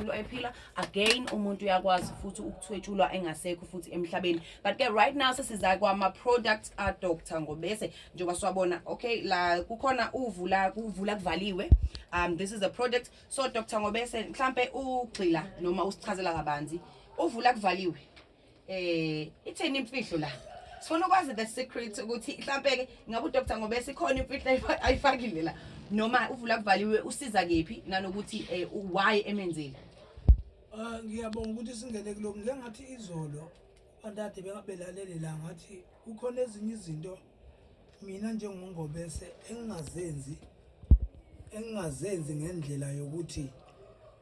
umuntu ephila again umuntu uyakwazi futhi ukuthwetshulwa engasekho futhi emhlabeni but ke right now sesiza kwama products a doctor ngobese njengoba siwabona okay la kukhona uvula kuvula kuvaliwe um this is a product so doctor ngobese mhlambe ugxila noma usichazela kabanzi uvula kuvaliwe eh ithini imfihlo la sifuna ukwazi the secret ukuthi mhlambe ke ngabe udoctor ngoba esikhona imfihlo ayifakile la noma uvula kuvaliwe usiza kephi nanokuthi eh, why emenzile Ah ngiyabonga ukuthi singene kuloko ngengathi izolo abantu ade bengabelalele la ngathi kukhona ezinye izinto mina njengongobese engingazenzi engingazenzi ngendlela yokuthi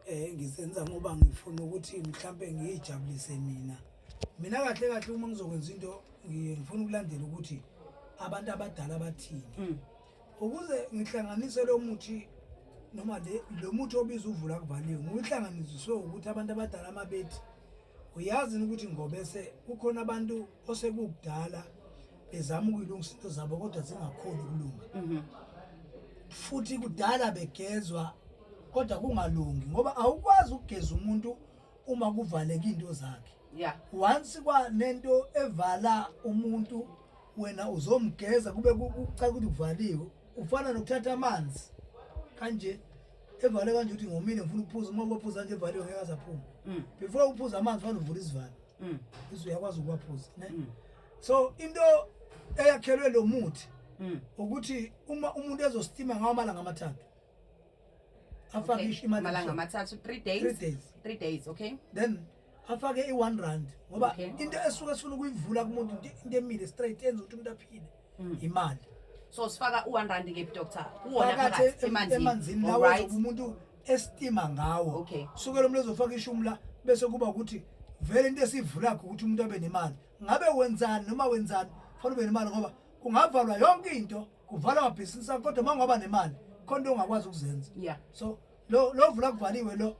eh ngizenza ngoba ngifuna ukuthi mhlambe ngiyijabulise mina mina kahle kahle uma ngizokwenza into ngiye ngifuna ukulandela ukuthi abantu abadala bathini mm. ukuze ngihlanganise lo muthi noma le lo muthi obiza uvula kuvaliwe ngihlanganiswe ukuthi abantu abadala amabethi uyazi ukuthi ngobese kukhona abantu osekugdala bezama ukuyilungisa into zabo kodwa zingakhoni ukulunga mhm. futhi kudala begezwa kodwa kungalungi ngoba awukwazi ukugeza umuntu uma kuvaleke into zakhe yeah once kwanento evala umuntu wena uzomgeza kube kucaka ukuthi kuvaliwe ufana nokuthatha amanzi kanje evale kanje ukuthi ngomile ngifuna ukuphuza uma ubaphuza nje evaliwe ngeke azaphuma mm. before uphuza amanzi fanele uvule isivalo mm. bese uyakwazi ukuwaphuza ne mm. so into eyakhelwe lo muthi Mm. ukuthi uma umuntu ezostima ngawo amalanga amathathu afake Okay. ish- imali Amalanga ebusuku. amathathu 3 days. Three days. 3 days, okay? then afake i-one rand ngoba Okay. into esuke sifuna ukuyivula kumuntu into into emile straight enza ukuthi umuntu aphile Mm. imali So sifaka u1 rand ke doctor. Uwona phakathi phakathi em- emanzini. emanzini All lawo right. ozobe umuntu estima ngawo Okay. suke lo muntu ezofaka ishumi la bese kuba ukuthi vele into esivulakho ukuthi umuntu abe nemali ngabe wenzani noma wenzani fanele ube nemali ngoba kungavalwa yonke into kuvalwa amabhizinisi akho kodwa uma ungaba nemali khona into ongakwazi ukuzenza yeah so lo lo vula kuvaliwe lo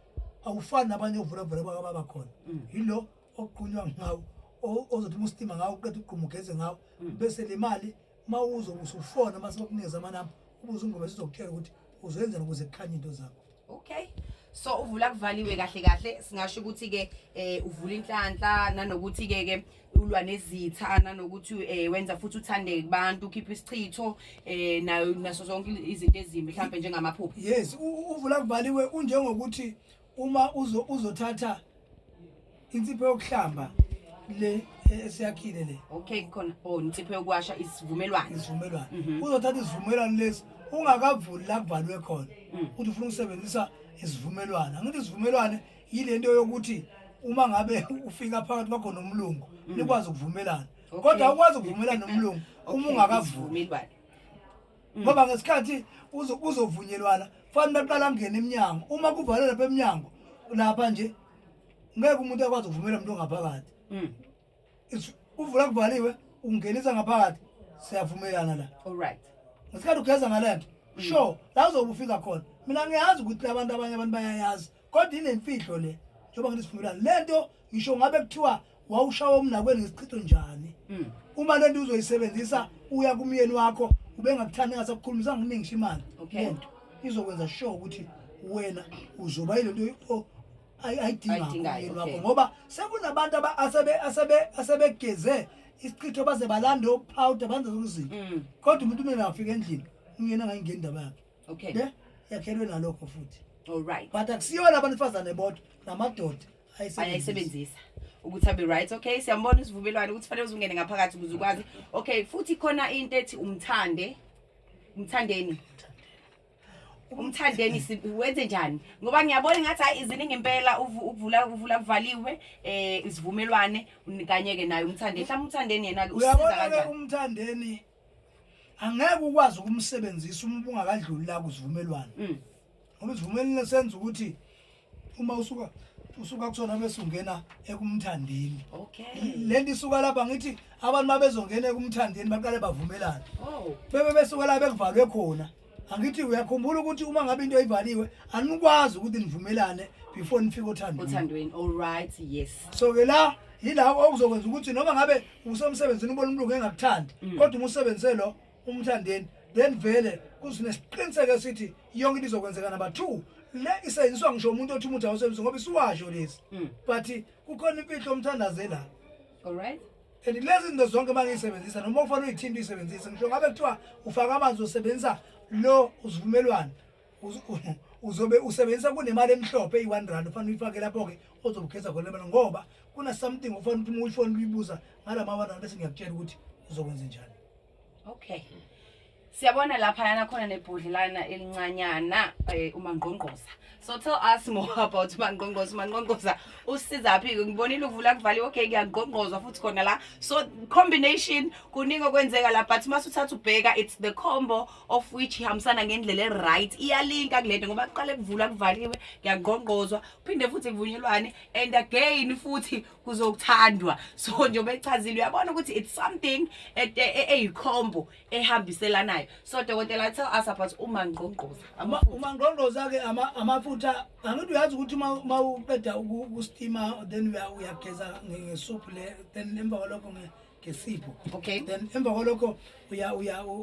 awufani nabanye ovula vula bakababa khona Mm. yilo oqunywa ngawo o- ozothi uma usitima ngawo uqeda ugquma ugeze ngawo Mm. bese le mali uma uzobe usufona uma sekunikeza amanamba ubuze ungoma sizokutshela ukuthi uzoyenzani ukuze kukhanye into zakho okay so uvula kuvaliwe kahle kahle singasho ukuthi ke eh uvula inhlanhla nanokuthi ke ke ulwa nezitha nanokuthi eh wenza futhi uthandeke kubantu ukhipha isichitho eh nayo naso zonke izinto ezimbi mhlawumbe njengamaphupho yes uvula kuvaliwe unjengokuthi uma uzo uzothatha insipho yokuhlamba le e- esiyakhile le okay khona oh insipho yokuwasha isivumelwano isivumelwano Mhm. uzothatha isivumelwano lesi ungakavuli la kubhalwe khona Mm. ukuthi ufuna ukusebenzisa isivumelwano angithi isivumelwane yile nto yokuthi uma ngabe ufika phakathi kwakho nomlungu nikwazi ukuvumelana Mm. Okay. kodwa ukwazi ukuvumelana nomlungu uma Okay, ungakavuli isivumelwano Mm. ngoba ngesikhathi uzo- kuzovunyelwana fanele baqala ngena emnyango uma kuvalwe lapha emnyango lapha nje ngeke umuntu akwazi ukuvumela umuntu ongaphakathi mm. uvula kuvaliwe ungenisa ngaphakathi siyavumelana la alright ngesikhathi ugeza ngalento mm. sure la uzobe ufika khona mina ngiyazi ukuthi labantu abanye abantu bayayazi kodwa inemfihlo le njengoba ngithi sivumelana lento ngisho ngabe kuthiwa wawushawa umnakweni ngesichitho njani mm. uma lento uzoyisebenzisa uya kumyeni wakho ubengakuthandi ngasakukhulumisa nginingisha imali lento izokwenza sure ukuthi wena uzoba yilento Ay- ayidingayo, ayidingayo umyeni wakho okay. ngoba sekunabantu aba- asebe- asebe- asebegeze isichitho baze balande ophawuda banze zonke izinto Mm, kodwa umuntu umele afika endlini umyeni angayingeni indaba yakhe okay ne yakhelwe nalokho futhi all right but akusiyona abantu besifazane bodwa namadoda ayisebenzisa ayayisebenzisa ukuthi abe right okay siyambona isivumelwano ukuthi fanele uzungene ngaphakathi ukuze ukwazi okay futhi khona into ethi umthande umthandeni umthandeni wenze njani ngoba ngiyabona ngathi hayi iziningi impela ukuvula ukuvula kuvaliwe eh isivumelwane kanye ke naye umthandeni mhlawumbe umthandeni yena ke usiza kanjani umthandeni angeke ukwazi ukumsebenzisa uma ungakadluli la kuzivumelwane mm. ngoba isivumelwane senza ukuthi uma usuka usuka kusona bese ungena ekumthandeni okay lento isuka lapha ngithi abantu mabezongena ekumthandeni baqale bavumelane oh bebe besuka la bekuvalwe khona angithi uyakhumbula ukuthi uma ngabe into ivaliwe anikwazi ukuthi nivumelane before nifike othandweni othandweni all right yes so ke la yila okuzokwenza ukuthi noma ngabe usemsebenzini ubona umuntu engakuthandi mm. kodwa umusebenzise lo umthandeni then vele kusinesiqiniseko esithi yonke into izokwenzeka number two le isenziswa ngisho umuntu othi umuthi awusebenzi ngoba isiwasho lezi Mm. but kukhona imfihlo omthandaze la Alright. and lezi zinto zonke uma ngiyisebenzisa noma ufanele uyithinta uyisebenzise ngisho ngabe kuthiwa ufaka amanzi usebenzisa lo usivumelwano uz- u- uzobe usebenzisa kunemali emhlophe eyi-one rand ufanele uyifake lapho-ke ozobukhetha khona lemali ngoba kuna-something ufanele ukuthi uma uyifona uyibuza ngala ma-one rand bese ngiyakutshela ukuthi uzokwenze njani okay hmm. siyabona lapha yana khona nebhodlelana elincanyana eh, umangqongqoza so tell us more about umangqongqoza umangqongqoza usizaphi ke ngibonile uvula kuvaliwe okay kuyangqongqozwa futhi khona la so combination kuningi okwenzeka la but mase uthatha ubheka it's the combo of which ihambisana ngendlela eright iyalinka kulento ngoba kuqale kuvula kuvaliwe kuyangqongqozwa phinde futhi kuvunyelwane and again futhi kuzokuthandwa so njengoba echazile uyabona ukuthi it's something e, e, eyikhombo ehambiselanayo so dokotela tell us about umangqongqoza umangqongqoza ke amafutha angithi uyazi ukuthi uma uqeda ukustima then uyageza ngesophu le then emva kwalokho ngesipho okay then emva kwalokho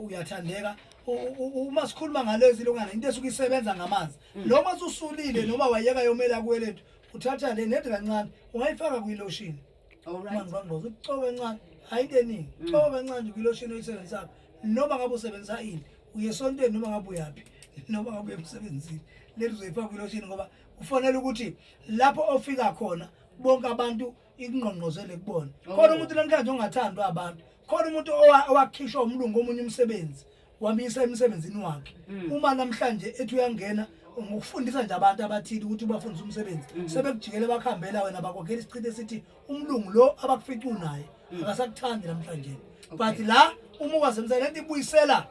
uyathandeka uma sikhuluma ngalezi lungana into esuke isebenza ngamanzi mm. noma ususulile noma wayeka yomela kuwelethu uthatha le nedi kancane ungayifaka kwiloshini manje bamboza ukucoba kancane hayi into eningi mm. coba kancane nje kwiloshini oyisebenzisako noma ngabe usebenzisa ini uye esontweni noma ngabe uyaphi noma ngabe uye emsebenzini leli uzoyifaka kwiloshini ngoba kufanele ukuthi lapho ofika khona bonke abantu ikungqongqozele kubona oh. khona umuntu namhlanje ongathandwa abantu khona umuntu owakhishwa umlungu omunye umsebenzi wamisa emsebenzini wakhe mm. uma namhlanje ethi uyangena ngokufundisa nje abantu abathile ukuthi ubafundisa umsebenzi mm-hmm. sebekujikele bakuhambela wena bakwakhela isichithe sithi umlungu lo abakufica unaye mm. akasakuthandi namhlanje but la uma ukwasemsebenzini lento ibuyisela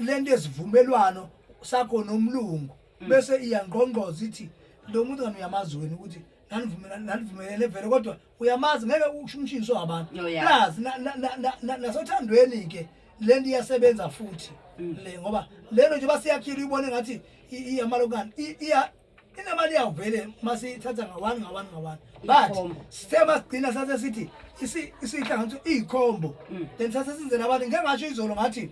lento esivumelwano sakho nomlungu mm. bese iyangqongqoza ithi lo muntu kani uyamazi wena ukuthi nanivumelana nanivumelele vele kodwa uyamazi ngeke usho umshini so abantu Oh, yeah. plus na- na- na- na- na- nasothandweni ke lento iyasebenza futhi Mm. le ngoba lelo nje basiyakhile uyibone ngathi i- iyamalokani I- iya inemali yawo vele masiyithatha ngawani ngawani ngawani but Ikhombo. sithe masigcina sathe sithi isi- isihlanganiso iyikhombo Mm. then sathe sizele abantu ngeke ngasho izolo ngathi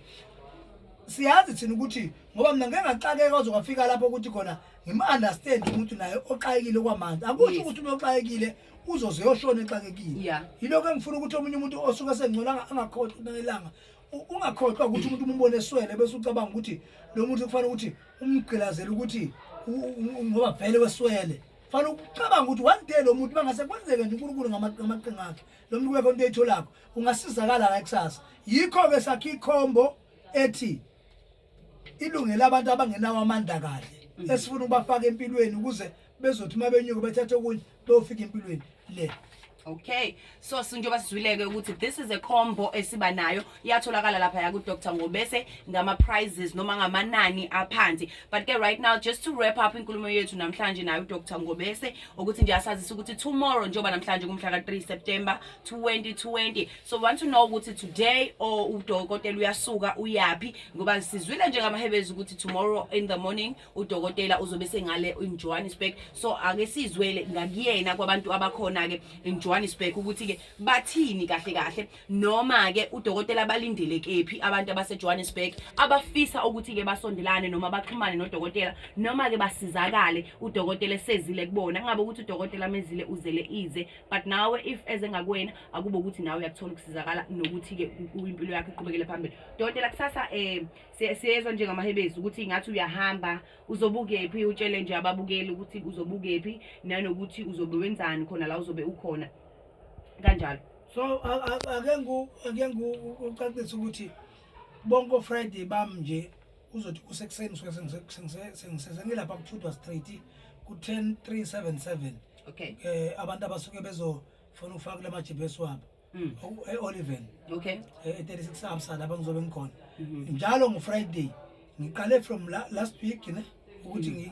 siyazi thina ukuthi ngoba mina ngeke ngaxakeka kwaze kwafika lapho ukuthi khona ngim-understand umuntu naye oxakekile kwamanzi akusho Yes. ukuthi umuntu oxakekile uzoze yoshona exakekile Yeah. yilokho engifuna ukuthi omunye umuntu osuke sengcola anga- angakhohlwa kunelanga U- ungakhohlwa ukuthi umuntu umumbone eswele bese ucabanga ukuthi lo muntu kufanele ukuthi umgqilazele ukuthi u- u- u- ngoba vele weswele fanele ucabanga ukuthi one day lo muntu bangase kwenzeke nje unkulunkulu ngama- ngamaqhinga akhe lo muntu kwekho into eyitholakho ungasizakala la kusasa yikho-ke sakhe ikhombo ethi ilungela abantu abangenawo amandla kahle mm. esifuna ukubafaka empilweni ukuze bezothi uma benyuke bethathe okunye beyofika empilweni le okay so sinjengoba sizwileke ukuthi this is a combo esiba nayo iyatholakala lapha ya kudr ngobese ngama-prizes noma ngamanani aphansi but ke right now just to wrap up inkulumo yethu namhlanje nayo udr ngobese ukuthi nje asazisa ukuthi tomorrow njengoba namhlanje kumhla ka-3 september 2020 so we want to know ukuthi today or udokotela uyasuka uyaphi ngoba sizwile njengamahebezi ukuthi tomorrow in the morning udokotela uzobe sengale in Johannesburg so ake sizwele ngakuyena kwabantu abakhona ke in Johannesburg ukuthi ke bathini kahle kahle noma ke udokotela balindele kephi abantu abase Johannesburg abafisa ukuthi ke basondelane noma baxhumane nodokotela noma ke basizakale udokotela sezile kubona ngabe ukuthi udokotela mezile uzele ize but nawe if ezengakwena akube ukuthi nawe uyakuthola ukusizakala nokuthi-ke impilo yakho iqhubekele phambili dokotela kusasa um siyezwa njengamahebezi ukuthi ngathi uyahamba uzobukephi utshele nje ababukeli ukuthi uzobukephi nanokuthi uzobe wenzani khona la uzobe ukhona kanjalo so ake ngikucacise ukuthi bonke ofriday bami nje uzothi kusekuseni sengisesengilapha kuthudwa street ku-10 377 okay um abantu abasuke bezo funa ufake la majibhesi wabo Mm. Oku- e-oliven Okay. eh, e-36 amsa lapha ngizobe ngikhona Mhm. njalo ngufriday ngiqale from la, last week ne ukuthi ngi-